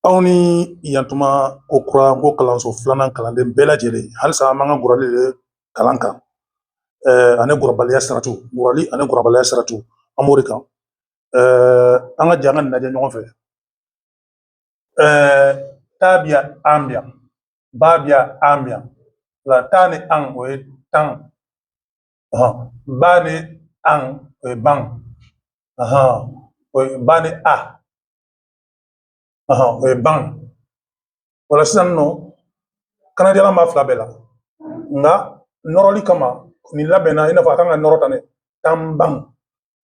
Aw ni yantuma ko kura nko kalanso filanan kalanden bɛɛ lajɛlen halisa an b'an ka gurali de kalan kan ani gurabaliya saratu gurali ani gurabaliya saratu an b'o de kan an ka jɛ an ka nin lajɛ ɲɔgɔn fɛ ta bɛ yan an bɛ yan ba bɛ yan an bɛ yan o la ta ni an o ye tan ba ni an o ye ban o ye ba ni a o ye ban o la sisan nɔ kanadiyalan b'a fila bɛɛ la nka nɔrɔli kama nin labɛnna i n'a fɔ a kan ka nɔrɔ tan ne tan ban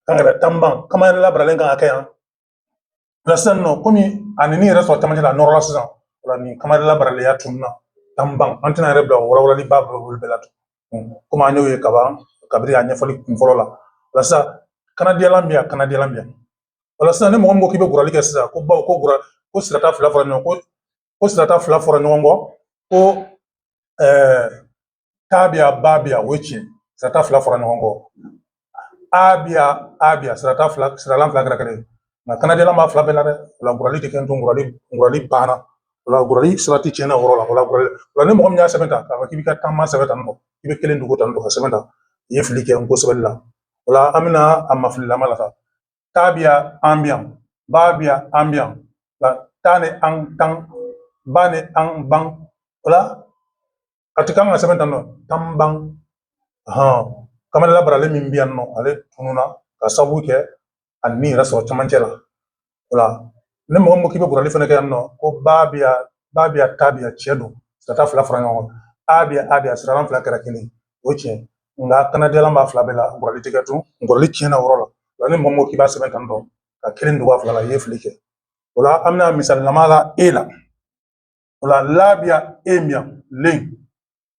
kan ka kɛ tan ban kamayɛlɛ labaralen kan ka kɛ yan o la sisan nɔ komi a ni yɛrɛ sɔrɔ camancɛ la a nɔrɔla sisan o la nin kamayɛlɛ labaralenya tununna tan ban an tɛna yɛrɛ bila o walawalali ba bolo bɛɛ la tun komi an y'o ye kaban kabiri a ɲɛfɔli kun fɔlɔ la o la sisan kanadiyalan bɛ yan kanadiyalan bɛ yan o la sisan ni mɔgɔ min ko k'i bɛ gurali kɛ sisan ko bawo ko gura ko sirata fila fɔra ɲɔgɔn kɔ ko sirata fila fɔra ɲɔgɔn kɔ ko ɛɛ ta bɛ yan ba bɛ yan o ye tiɲɛ sirata fila fɔra ɲɔgɔn kɔ a bɛ yan a bɛ yan sirata fila siralan fila kɛra kelen ye nka kanadiyalan b'a fila bɛɛ la dɛ o la gurali tɛ kɛ tun gurali gurali banna o la gurali sarati tiɲɛna o yɔrɔ la o la gurali o la ni mɔgɔ min y'a sɛbɛn tan k'a fɔ k'i b'i ka tan ban sɛbɛn tan nɔ i bɛ kelen dogo tan nɔ k'a sɛbɛn tan i ye fili kɛ nko sɛbɛnni la o la an bɛna a mafililama la sa ta bɛ yan an bɛ yan ba bɛ yan an bɛ yan o la ta ni an tan ba ni an ban o la a ti kan ka sɛbɛn tan nɔ tan ban hɔn kamayɛlɛ labaralen min bɛ yan nɔ ale tununna ka sabu kɛ a ni yɛrɛ sɔrɔ camancɛ la o la ni mɔgɔ min ko k'i bɛ gurali fana kɛ yan nɔ ko ba bɛ yan ba bɛ yan ta bɛ yan tiɲɛ don sirata fila fara ɲɔgɔn kan a bɛ yan a bɛ yan siralan fila kɛra kelen o ye tiɲɛ nka kanadiyalan b'a fila bɛɛ la gurali tɛ kɛ tun gurali tiɲɛna o yɔrɔ la o la ni mɔgɔ min ko k'i b'a sɛbɛn tan tɔ ka kelen dogo a fila la i ye fili kɛ o la an bɛna misalilama la e la o la la bɛ yan en bɛ yan len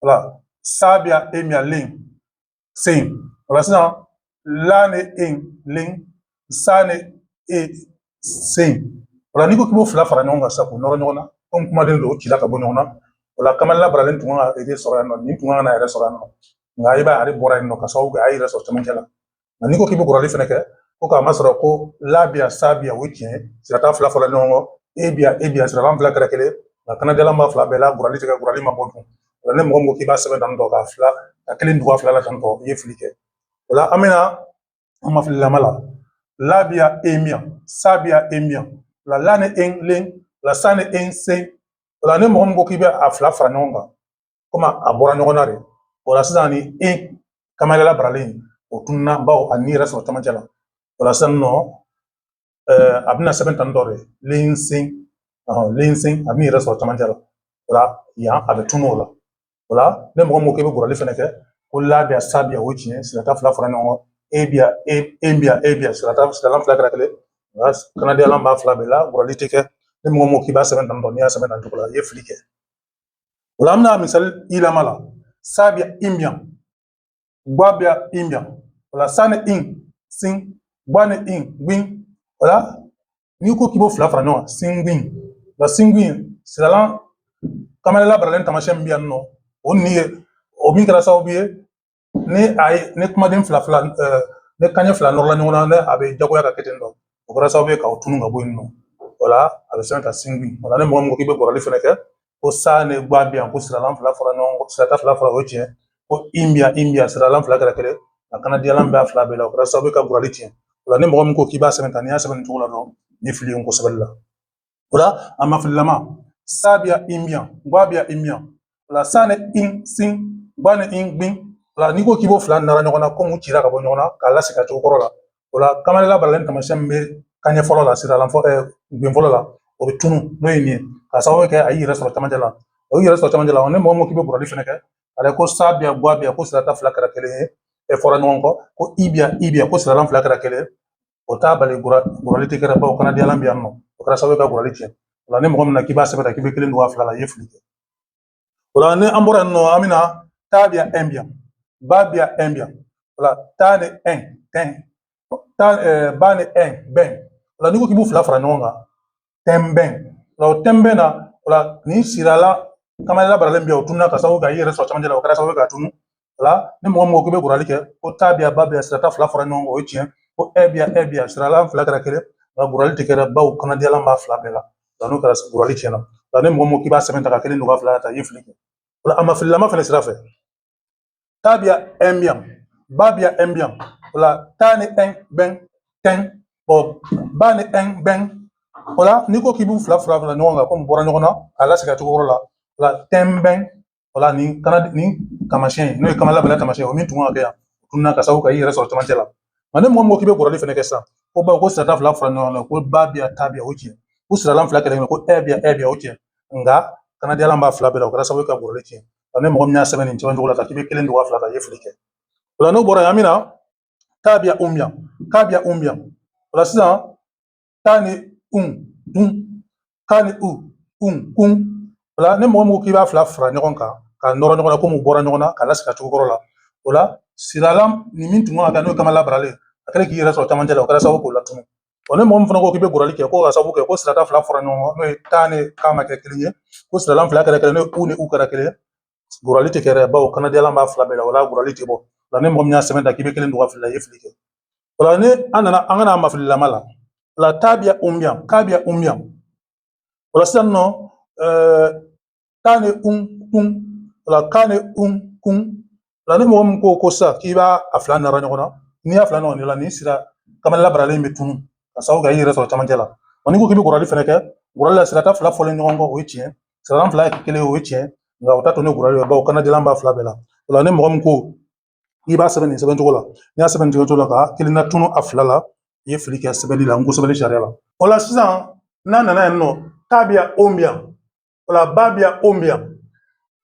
o la sa bɛ yan en bɛ yan len sen o la sisan la ni en len sa ni en sen o la n'i ko k'i b'o fila fara ɲɔgɔn kan sisan k'o nɔrɔ ɲɔgɔn na komi kumaden don o cila ka bɔ ɲɔgɔn na o la kamayɛlɛ labaralen tun kan ka yɛrɛ sɔrɔ yan nɔ nin tun kan ka yɛrɛ sɔrɔ yan nɔ nka i b'a ye ale bɔra yen nɔ ka sababu kɛ a y'i yɛrɛ sɔrɔ cɛmancɛ la nka n'i ko k'i bɛ gurali fɛnɛ kɛ ko k'a masɔrɔ ko la bɛ yan sa bɛ yan o ye tiɲɛ ye sirata fila fɔra ɲɔgɔn kɔ e bɛ yan e bɛ yan siralan fila kɛra kelen nka kanadiyalan b'a fila bɛɛ la gurali tɛ kɛ gurali ma bɔ dun O la ni mɔgɔ min ko k'i b'a sɛbɛn tan tɔ k'a fila ka kelen dogo a fila la tan tɔ i ye fili kɛ o la an bɛna a mafililama la la bɛ yan en bɛ yan sa bɛ yan en bɛ yan o la la ni en len o la sa ni en sen o la ni mɔgɔ min ko k'i bɛ a fila fara ɲɔgɔn kan komi a bɔra ɲɔgɔn na de o la sisan ni en kamayɛlɛ labaralen o tununna bawo a ni yɛrɛ sɔrɔ camancɛ la o la sisan nɔ a bɛna sɛbɛn tan dɔ de lensen lensen a b'i yɛrɛ sɔrɔ camancɛ la o la yan a bɛ tunun o la o la ni mɔgɔ min ko k'i bɛ gbarali fɛnɛ kɛ ko la bi yan sa bi yan o tiɲɛ sirata fila fara ɲɔgɔn kan en bi yan e en bi yan en bi yan sirata siralan fila kɛra kelen nka kannadiyalan b'a fila bɛɛ la gbarali tɛ kɛ ni mɔgɔ min ko k'i b'a sɛbɛn tan dɔ n'i y'a sɛbɛn tan cogo la i ye fili kɛ o la an bɛna misali i lama la sa bi yan in bi yan gba bi yan in bi yan o la sa ni in sin gba ni in gbin o la n'i ko k'i b'o fila fara ɲɔgɔn singbin la singbin siralan kanmayɛlɛn labaralen tamasiyɛn min bɛ yan nɔ o ni ye o min kɛra sababu ye ni a ye ni kumaden fila fila ni kanɲɛ fila nɔrɔla ɲɔgɔn na ne a bɛ jagoya ka kɛ ten tɔ o kɛra sababu ye k'o tunu ka bɔ yen nɔ o la a bɛ sɛbɛn ka singbin o la ni mɔgɔ min ko k'i bɛ gbarali fɛnɛ kɛ ko sa ni gba bi yan ko siralan fila fara ɲɔgɔn kɔ sirata fila fara o tiɲɛ ko in bi yan in bi yan siralan fila kɛra kelen a kannadiyalan b'a fila bɛɛ la o kɛra sababu ye ka gbarali tiɲɛ o la ni mɔgɔ min ko k'i b'a sɛbɛn tan n'i y'a sɛbɛn nin cogo la dɔrɔn nin fili ye nko sɛbɛ la o la a ma fililama sa bi yan in bi yan gba bi yan in bi yan o la sa ni in sin gba ni in gbin o la n'i ko k'i b'o fila nara ɲɔgɔn na komi u cira ka bɔ ɲɔgɔn na k'a lasegin a cogo kɔrɔ la o la kanmayɛlɛn labaralen taamasiyɛn min bɛ kanɲɛ fɔlɔ la siralan fɔ bin fɔlɔ la o bɛ tunu n'o ye nin ye k'a sababu kɛ a y'i yɛrɛ sɔrɔ camancɛ la o y'i yɛrɛ sɔrɔ camancɛ la ni mɔgɔ min k'i bɛ gbarali fɛnɛ kɛ ale ko sa bi yan gba bi yan ko sirata fila kɛra kelen ye e fɔra ɲɔgɔn kɔ ko in bi yan in bi yan ko siralan fila kɛra kelen o t'a bali gbarali tɛ kɛra bawo kannadiyalan bɛ yan nɔ o kɛra sababu ye ka gbarali tiɲɛ o la ni mɔgɔ min na k'i b'a sɛbɛn k'i bɛ kelen dogo a fila la i ye fili kɛ o la ni an bɔra yen nɔ an bɛna ta bi yan ɛn bi yan ba bi yan ɛn bi yan o la ta ni ɛn tɛn ta ɛɛ ba ni ɛn bɛn o la n'i ko k'i b'u fila fara ɲɔgɔn kan tɛnbɛn o la o tɛnbɛn na o la nin siralan kanmayɛlɛn labaralen bɛ yan o tununa k'a sababu kɛ i yɛrɛ sɔrɔ camancɛ la o kɛra sababu ye k'a tunu la ni mɔgɔ mɔgɔ k'i bɛ gbarali kɛ ko ta bi yan ba bi yan sirata fila fara ɲɔgɔn kan o ye tiɲɛ ko ɛn bi yan ɛn bi yan siralan fila kɛra kelen nka gbarali tɛ kɛra bawo kannadiyalan b'a fila bɛɛ la nka n'o kɛra gbarali tiɲɛna nka ni mɔgɔ mɔgɔ k'i b'a sɛbɛn tan ka kelen don ka fila ta i ye fili kɛ o la a ma fililama fana sira fɛ ta bi yan ɛn bi yan ba bi yan ɛn bi yan o la ta ni ɛn bɛn tɛn ɔ ba ni ɛn bɛn o la n'i ko k'i b'u fila fara fara ɲɔgɔn kan komi bɔra ɲɔgɔn na k'a lasegin a cogo kɔrɔ la o la tɛnbɛn o la nin kana nin taamasiyɛn n'o ye kanmayɛlɛn labaralen taamasiyɛn o min tun kan ka kɛ yan o tununa k'a sababu kɛ i yɛrɛ sɔrɔ camancɛ la nka ni mɔgɔ mɔgɔ k'i bɛ gbarali fɛnɛ kɛ sisan ko bawo ko sirata fila fara ɲɔgɔn kan ko ba bi yan ta bi yan o tiɲɛ ko siralan fila kelen ko ɛn bi yan ɛn bi yan o tiɲɛ nka kannadiyalan b'a fila bɛɛ la o kɛra sababu ka gbarali tiɲɛ nka ni mɔgɔ min y'a sɛbɛn nin cɛman cogo la ka k'i bɛ kelen dogo a fila la i ye fili kɛ o la n'o bɔra yan an bɛna ta bi yan un bi yan ka bi yan un bi yan o la sisan ta ni un tun ka ni un kun o la ni mɔgɔ min ko k'i b'a fila fara ɲɔgɔn kan ka nɔrɔ ɲɔgɔn na komi u bɔra ɲɔgɔn na ka lasigi cogo kɔrɔ la o la siralan ni min tun kan ka kɛ n'o ye kanmayɛlɛ labaralen a kɛlen k'i yɛrɛ sɔrɔ camancɛ la o kɛra sababu k'o latunu wa ni mɔgɔ min fana ko k'i bɛ gurali kɛ ko ka sababu kɛ ko sirata fila fara ɲɔgɔn kan n'o ye ta ni ka ma kɛ kelen ye ko siralan fila kɛra kelen n'o ye u ni u kɛra kelen ye gurali tɛ kɛ dɛ bawo kannadiyalan b'a fila bɛɛ la o la gurali tɛ bɔ o la ni mɔgɔ min y'a sɛbɛn tan k'i bɛ kelen don ka fili la i ye fili kɛ o la ni an nana an ka n'a mafililama la o la ta bi yan un bi yan ka bi yan un bi yan o la sisan nɔ ɛɛ ta ni un tun o la ka ni un kun o la ni mɔgɔ min ko ko sisan k'i b'a a fila nɔrɔ ɲɔgɔn na n'i y'a fila ɲɔgɔn de la nin sira kanmayɛlɛ labaralen bɛ tunu ka sababu kɛ i yɛrɛ sɔrɔ camancɛ la wa n'i ko k'i bɛ gurali fɛnɛ kɛ gurali la sirata fila fɔlen ɲɔgɔn kɔ o ye tiɲɛ siralan fila kelen o ye tiɲɛ nka o t'a to ne gurali ye bawo kannadiyalan b'a fila bɛɛ la o la ni mɔgɔ min ko i b'a sɛbɛn nin sɛbɛn cogo la n'i y'a sɛbɛn nin cogo la ka kelen latunu a fila la i ye fili kɛ sɛbɛnni la nko sɛbɛnni sariya la o la sisan n'a nana yen nɔ ta bi yan on bi yan o la ba bi yan on bi yan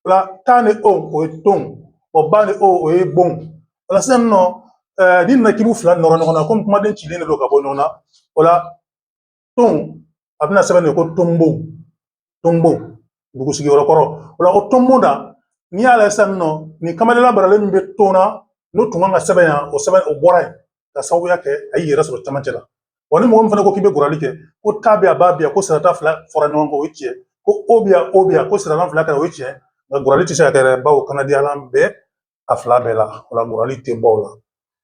o la ta ni on o ye ton o ba ni on o ye bon o la sisan nɔ n'i nana k'i b'u fila nɔrɔ ɲɔgɔn na komi kumaden cilen de don ka bɔ ɲɔgɔn na o la ton a bɛna sɛbɛn de ko tonbo tonbo dugu sigiyɔrɔ kɔrɔ o la ko tonbo na n'i y'a lajɛ sisan nɔ nin kanmayɛlɛ labaralen min bɛ ton na n'o tun kan ka sɛbɛn yan o sɛbɛn o bɔra yen ka sababuya kɛ a y'i yɛrɛ sɔrɔ camancɛ la wa ni mɔgɔ min fana ko k'i bɛ gurali kɛ ko ta bɛ yan ba bɛ yan ko sirata fila fɔra ɲɔgɔn kan o ye tiɲɛ ko on bɛ yan on bɛ yan ko siralan fila kɛra o ye tiɲɛ nka gurali tɛ se ka kɛ dɛ bawo kannadiyalan bɛ a fila bɛɛ la o la gurali tɛ bɔ o la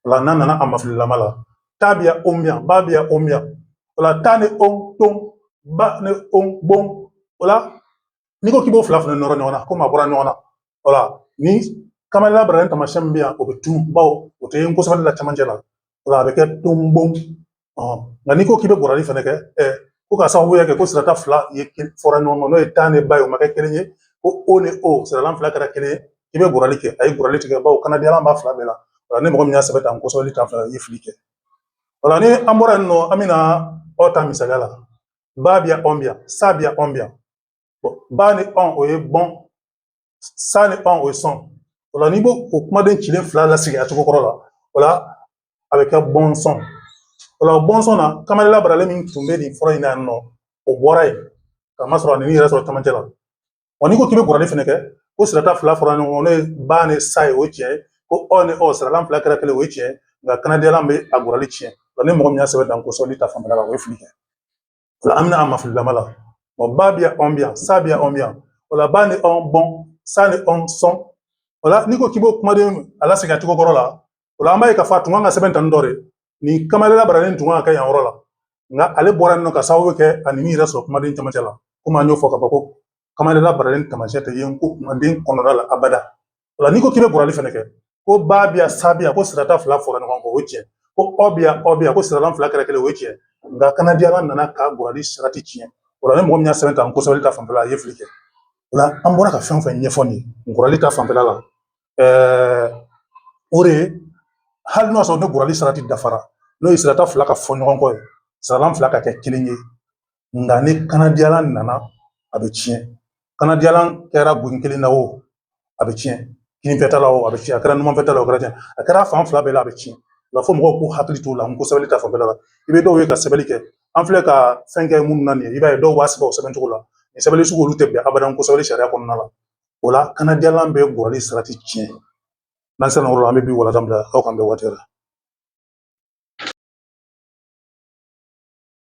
o la n'a nana a mafililama la ta bi yan on bi yan ba bi yan on bi yan o la ta ni on ton ba ni on bon o la n'i ko k'i b'o fila fana nɔrɔ ɲɔgɔn na komi a bɔra ɲɔgɔn na o la ni kanmayɛlɛ labaralen tamasiyɛn min bɛ yan o bɛ tunu bawo o tɛ nko sɛbɛnni la cɛmancɛ la o la a bɛ kɛ tonbon nka n'i ko k'i bɛ gurali fɛnɛ kɛ ko ka sababuya kɛ ko sirata fila ye fɔra ɲɔgɔn kan n'o ye ta ni ba ye o ma kɛ kelen ye ko o ni o siralan fila kɛra kelen ye i bɛ gurali kɛ ayi gurali tɛ kɛ bawo kannadiyalan b'a fila bɛɛ la o la ni mɔgɔ min y'a sɛbɛn tan nko sɛbɛli ta fan fɛ la i ye fili kɛ o la ni an bɔra yen nɔ an bɛna ɔ ta misaliya la ba bi yan ɔn bi yan sa bi yan ɔn bi yan ba ni ɔn o ye bɔn sa ni ɔn o ye sɔn o la n'i b'o o kumaden cilen fila lasigi a cogo kɔrɔ la o la a bɛ kɛ bɔnsɔn o la bɔnsɔn na kanmayɛlɛ labaralen min tun bɛ nin fɔlɔ in na yan nɔ o bɔra yen ka masɔrɔ a y'i yɛrɛ sɔrɔ camancɛ la wa n'i ko k'i bɛ gurali fɛnɛ kɛ ko sirata fila fɔra ɲɔgɔn kɔ n'o ye ba ni sa ye o ye tiɲɛ ye ko ɔ ni ɔ siralan fila kɛra kelen o ye tiɲɛ ye nka kannadiyalan bɛ a gurali tiɲɛ wa ni mɔgɔ min y'a sɛbɛn tan nko sɛbɛnni ta fanfɛla la o ye fili kɛ an bɛna a mafililama la ɔ ba bi yan ɔn bi yan sa bi yan ɔn bi yan o la ba ni ɔn bɔn sa ni ɔn sɔn o la n'i ko k'i b'o kumaden a lasegin a cogo kɔrɔ la o la an b'a ye k'a fɔ a tun kan ka sɛbɛn tan dɔ de nin kanmayɛlɛ labaralen tun kan ka kɛ yan yɔrɔ la nka ale bɔra yen nɔ ka sababu kɛ ani min yɛrɛ sɔrɔ kumaden camancɛ la komi an y'o fɔ ka fɔ ko kanmayɛlɛ labaralen taamasiyɛn tɛ yen nko kumaden kɔnɔna la abada o la n'i ko k'i bɛ gbarali fɛnɛ kɛ ko ba bi yan sa bi yan ko sirata fila fɔra ɲɔgɔn kɔ o ye tiɲɛ ko ɔ bi yan ɔ bi yan ko siralan fila kɛra kelen o ye tiɲɛ nka kanadiyalan nana ka gbarali sarati tiɲɛ o la ni mɔgɔ min y'a sɛbɛn tan nko sɛbɛli ta fanfɛla a ye fili kɛ o la an bɔra ka fɛn o fɛn ɲɛfɔ nin ye gbarali ta fanfɛla la ɛɛ o de ye hali n'o y'a sɔrɔ ni gbarali sarati dafara n'o ye sirata fila ka fɔ ɲɔgɔn kɔ ye siralan fila ka kɛ kelen ye nka ni kanadiyalan nana a bɛ tiɲɛ kanadiyalan kɛra gben kelen na o a bɛ tiɲɛ kininfɛta la o a bɛ tiɲɛ a kɛra numanfɛta la o kɛra tiɲɛ a kɛra fan fila bɛɛ la a bɛ tiɲɛ nka fo mɔgɔw k'u hakili t'o la nko sɛbɛnni ta fanfɛla la i bɛ dɔw ye ka sɛbɛnni kɛ an filɛ ka fɛn kɛ minnu na nin ye i b'a ye dɔw b'a sɛbɛn o sɛbɛn cogo la nin sɛbɛnni sugu olu tɛ bɛn abada nko sɛbɛnni sariya kɔnɔna la o la kanadiyalan bɛ gbarali sarati tiɲɛ n'an sera yɔrɔ la an bɛ bi walanda bila aw k'an bɛn waati la